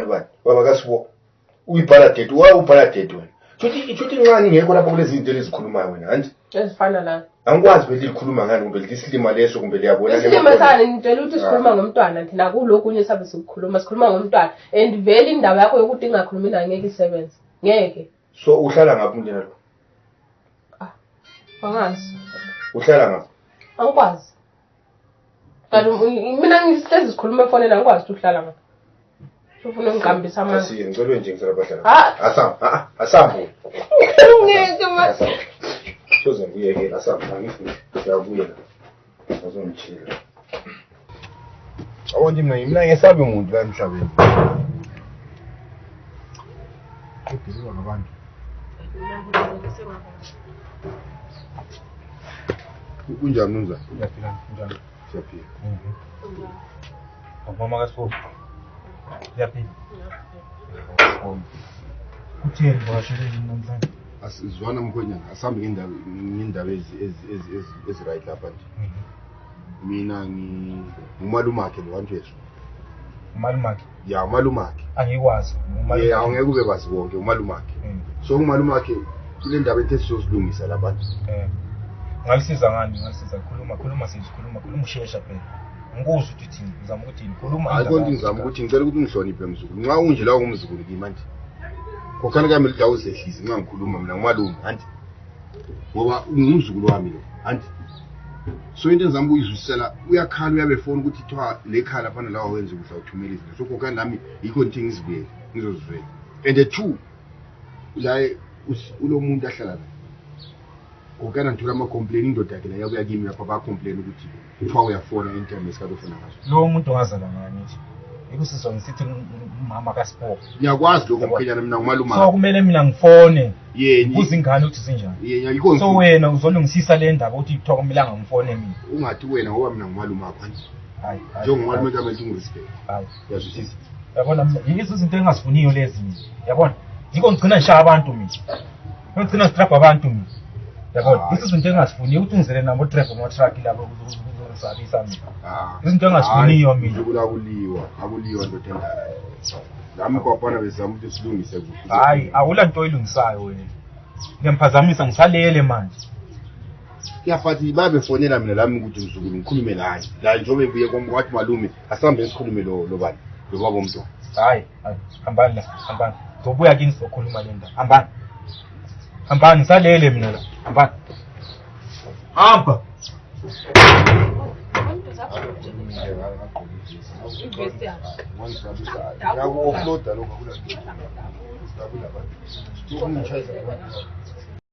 bani baba kasibo uyibhala date wa ubhala date wena shuthi shuthi incane ngekho lapha kulezi zinto elizikhulumayo wena hanti ezifana la angikwazi ukuthi likhuluma ngani kumbe lisilima leso kumbe liyabona isilima sani ngitshela ukuthi sikhuluma ngomntwana thina kulokhu unye sabe sikukhuluma sikhuluma ngomntwana and vele indaba yakho yokuthi ingakhulumi nangeke isebenze ngeke so uhlala ngaphi umndeni wakho angazi uhlala ngaphi angikwazi kanti u- mina ngihlezi sikhuluma efonini angikwazi ukuthi uhlala ngaphi ufuna ungiqambisa amandla asiye ngicelwe nje ngisela bahlala Ah. asambe a-a asambe ngeke ma soze ngibuyekela asambe angifuni ngiyabuyela azongitshela awonje mina mina ngesabi muntu la emhlabeni ebhizizwa ngabantu kunjani unjani uyaphila njani siyaphila akumama kasifo uyaphila kutheni bashele yini namhlanje asizwana mkhwenyana asihambe ngendawo eziright lapha nje mhm. mina ngumalumakhe lo wantwesho umalumakhe ya umalumakhe angikwazi ye awungeke ube kwazi konke umalumakhe mm. so umalumakhe kule ndaba ethe sizozilungisa labantu eh. ngalisiza ngani ngalisiza khuluma khuluma sisi khuluma khuluma ushesha phela ngikuzwa ukuthi thini ngizama ukuthi khuluma ayikho nto ngizama ukuthi ngicela ukuthi ungihloniphe mzukulu nxa unje lawo ngumzukulu kimanje khokhani kami lidawu zehlisi ngingangikhuluma mina ngumalume anti ngoba ngumzukulu wami lo anti so into enzami kuyizwisisela uyakhala uyabe fona ukuthi kuthiwa le khala fana lawa wenza ukudla uthumela izinto so khokhani nami yikho ngithi ngizibuyele ngizozivela and the two la ulo muntu ahlala naye ukana ndithula amacomplain indoda yakhe nayo kuya kimi lapha bacomplain ukuthi kuthiwa uyafona anytime esikade ufuna ngaso lo muntu ongazalwa ngangithi ikusizwa ngisithi umama kaspo ngiyakwazi lokho mkhwenyana mina ngumaluma so kumele mina ngifone ngibuza ingane ukuthi zinjani so wena uzolungisisa le ndaba ukuthi kuthiwa kumele angangifone mina ungathi wena ngoba mina ngumaluma akho njengomalume kamele ungirespect yazwisisa yabona yizo izinto engingazifuniyo lezi mina yabona yikho ngigcina ngishaya abantu mina unogcina strap abantu mina yabona ah. izinto engazifuniyo ukuthi ungizele nabo trap amatruck labo kuzozalisa mina ah. izinto engazifuniyo mina akuliwa akuliwa ndoda endala nami kwabona bezama ukuthi silungise hayi awula nto oyilungisayo wena ngiyamphazamisa ngisalele manje yafathi babefonela mina lami ukuthi mzukulu ngikhulume naye la njengoba ebuye kwathi malume asihambe sikhulume lo bani lo baba omntwana hayi hambani la hambani zobuya kini sizokhuluma le ndaba hambani hambani ngisalele mina la hambani hamba Yakuofloda lokho akula. Akula. Ukungichayisa abantu.